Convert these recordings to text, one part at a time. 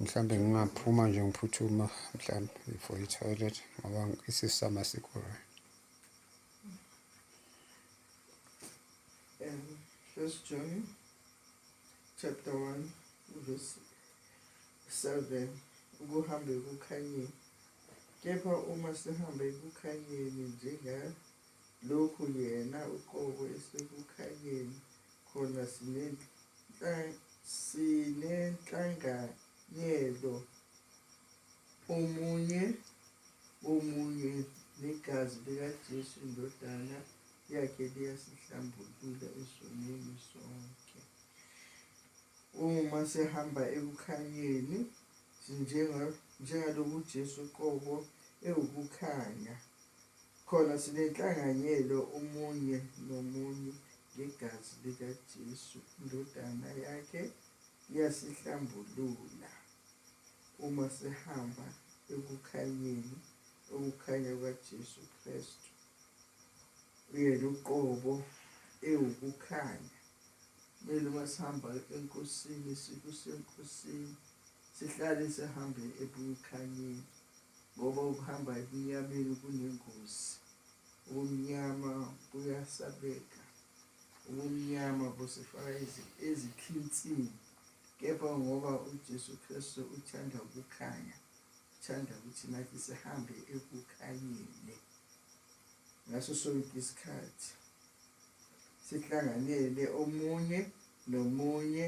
mhlawumbe ngingaphuma nje ngiphuthuma mhlawumbe for i-toilet ngoba isisama sikho right um first john chapter 1 verse 7 ukuhambe kukhanyeni kepha uma sihambe kukhanyeni njenga Lokhu yena uqobo esekukhanyeni khona sinenhlanganyelo omunye womunye negazi likaJesu indodana yakhe liyasihlambulula esonweni sonke. Uma sihamba ekukhanyeni njengalokuJesu qobo ewukukhanya. Khona sinenhlanganyelo omunye nomunye ngegazi likaJesu, iNdodana yakhe iyasihlambulula uma sihamba ekukhanyeni, ukukhanya kukaJesu Kristu. Uyena uqobo ewukukhanya. Kumele uma sihamba enkosini sikusenkosini sihlale sihambe ebukhanyeni ngoba ukuhamba ebumnyameni kunengozi. Ubumnyama buyasabeka, ubumnyama busifaka ezikhinsini, kepha ngoba uJesu Kristu uthanda ukukhanya, uthanda ukuthi nathi sihambe ekukhanyeni ngaso sonke isikhathi sihlanganele omunye nomunye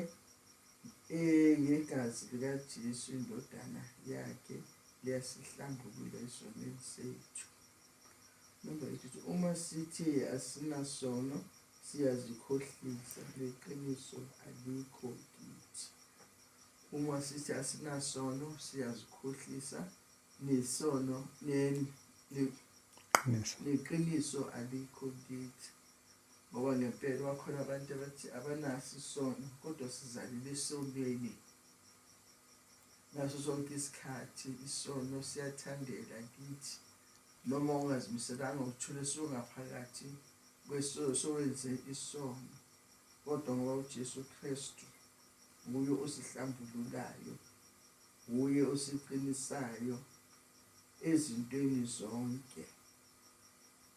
Eh, ngegazi likaJesu indodana yakhe liyasihlambulula esonweni sethu number eight uma sithe asinasono siyazikhohlisa leqiniso alikho kithi uma sithi asinasono siyazikhohlisa nesono neqiniso alikho kithi Ngoba ngempela bakhona abantu abathi abanaso isono kodwa sizalile esonweni ngaso sonke isikhathi isono siyathandela kithi noma ungazimiselanga uthule songaphakathi kwesowenze isono kodwa ngoba uJesu Kristu nguye osihlambululayo nguye osiqinisayo ezintweni zonke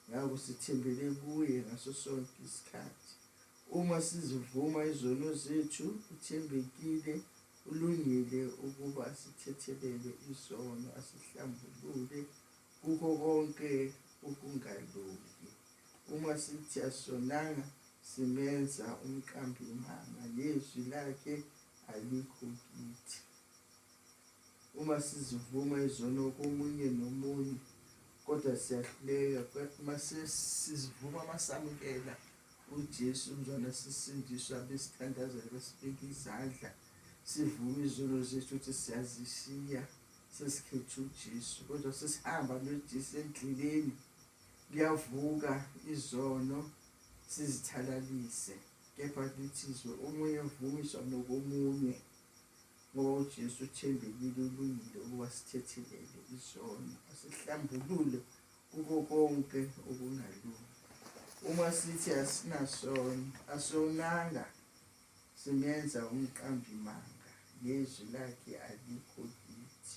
Ngakho sithembele kuye ngaso sonke isikhathi. Uma sizivuma izono zethu, uthembekile, ulungile ukuba asithethelele izono, asihlambulule kukho konke ukungalungi. Uma sithi asonanga, simenza umqambi manga, lezwi lakhe alikho kithi. Uma sizivuma izono komunye nomunye kodwa siyahluleka mase sizivuma masamukela uJesu umzwana sisindiswa besithandazela besibeka izandla sivume izono zethu ukuthi siyazishiya sesikhetha uJesu kodwa sesihamba noJesu endleleni kuyavuka izono sizithalalise kepha lithi izwe omunye uvumiswa nokomunye O Jesu uthembekile ulungile ukuba sithethelele izono asihlambulule kuko konke okungalungi uma sithi asinasono asonanga simenza umqambimanga nezwi lakhe alikho kithi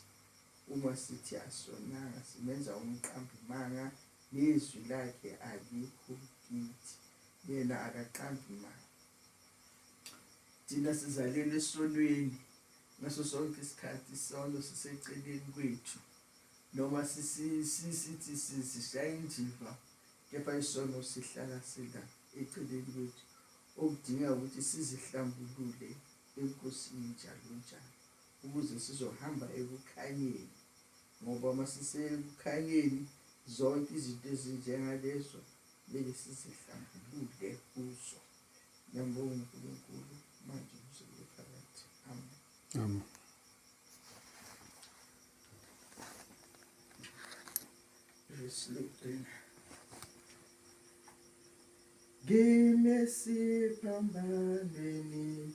uma sithi asonanga simenza umqambimanga nezwi lakhe alikho kithi yena akaqambimanga thina sizalelwe esonweni ngaso sonke isikhathi isono siseceleni kwethu noma sithi sishaya indiva kepha isono sihlala sila eceleni kwethu okudinga ukuthi sizihlambulule enkosini njalo njalo ukuze sizohamba ekukhanyeni ngoba uma sisekukhanyeni zonke izinto ezinjengalezo kumele sizihlambulule kuzo nabo uNkulunkulu manje kuzobe phakathi amen amen esilugcina ngimesiphambanweni